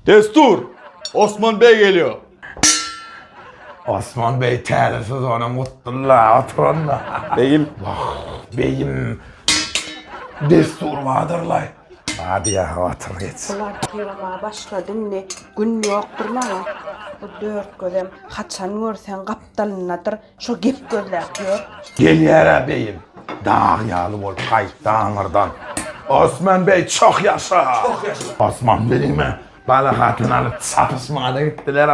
Destur! Osman beg gelýär! Osman beg täze sezonyň gutdully, oturanda. Begim! Wah, begim! Destur badyrlaý! Hadi ýa-ha otur geç. Bular ýylma başlady indi, gün ýokdur maňa. Bu dört gözem haçan görseň gapdalyndadyr. Şo gep gözläp ýör. Gelýär-ä beýim. Dag ýaly bolup gaýtdy aňyrdan. Osman beý, çoh ýaşa! Çoh ýaşa! Osman beýime bala hatyn alyp çapyşmaga-da gitdiler,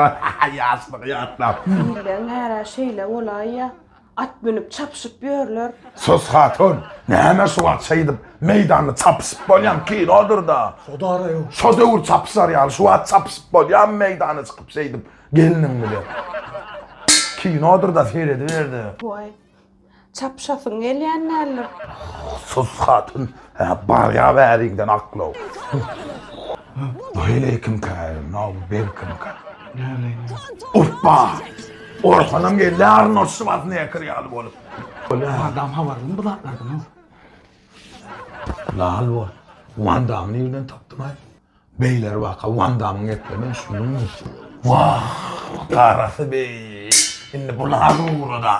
ýaşlygy ýatlap. Ilden bär-ä şeýle bolaýýa. At münüp çapyşyp ýörler. Sus hatyn! Näme şu wagt şeýdip meýdanda çapyşyp bolýam, kinodyr-da. Şodara ýok. Şo döwür çapyşar ýaly, şu wagt çapyşyp bolýamy meýdana çykyp şeýdip? Gelniň bile. Kinodyr-da serediber-de. Waý. Çapyşasyň gelýän däldir. Sus hatyn. Hä, barýa bäriňden aklaw. Waleýkimkä, no berkimkä. Oppa! Orhanam geldi aryn o Şwazneker ýaly bolup. Van Damme habarlymy bu zatlardan, ow? Lal bol. Van Damme nirden tapdyň-aý? Beýler baka Wan Damyň etlerinden üstünlik nusgalar. Wah, garasy beý! Indi bu lazy ugra-da!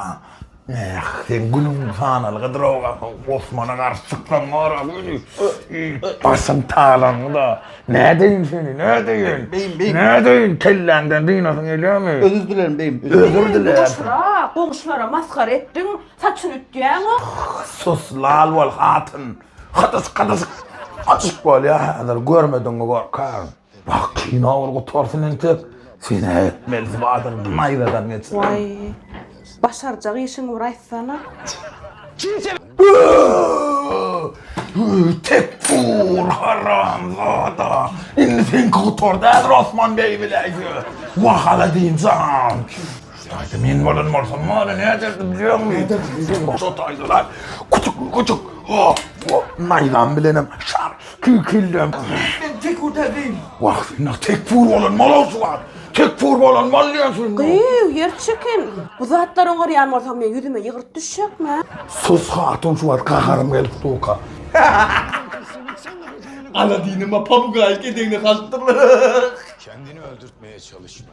Näh, seň günüň sanaly gydyrow gaty, Osmana garşy çyksaň gara gözi, başyň talaňy-da! Nädeýin seni, nädeýin? Beýim, beýim. Nädeýin, kelläňden dynasyň gelýärmi? Özür dilerin beýim, özür dilerin. Özür diler. Goşura, goňşulara masgara etdiň, saçyny ütýäň-ow. Sus, lal bol, hatyn! Hadysk hadysk açyk bolýa häzir görmediňmi gorkagym. Wah kino bir gutarsyn entek sen äýtmeli badyň naýzadan geçirin. Waý başarjak işiňi bir aýtsana. Tekfur haramzada indi seňki gutardy häzir Osman beý biläýse. Wah Aladinjan. Şutaýsa men bolan bolsam mana näderdi bilýäňmi? Näderdi bilýäňmi? Şutaýsalar küçük küçük hop hop naýzam bilenem şar kikildem. Men tekfur däldiýin. Wah sen tekfur bolan bol şu wagt. Tekfur bolan bol diýen söz. Gyýw ýer çeken. Bu zatlar oňarýan bolsa men ýüzüme ýygyrt düşjekmi? Sus hatun şu wagt gaharym gelip suka. Aladinime pabugaýyk edegine salypdyrlar. Kendini öldürtmeye çalışma.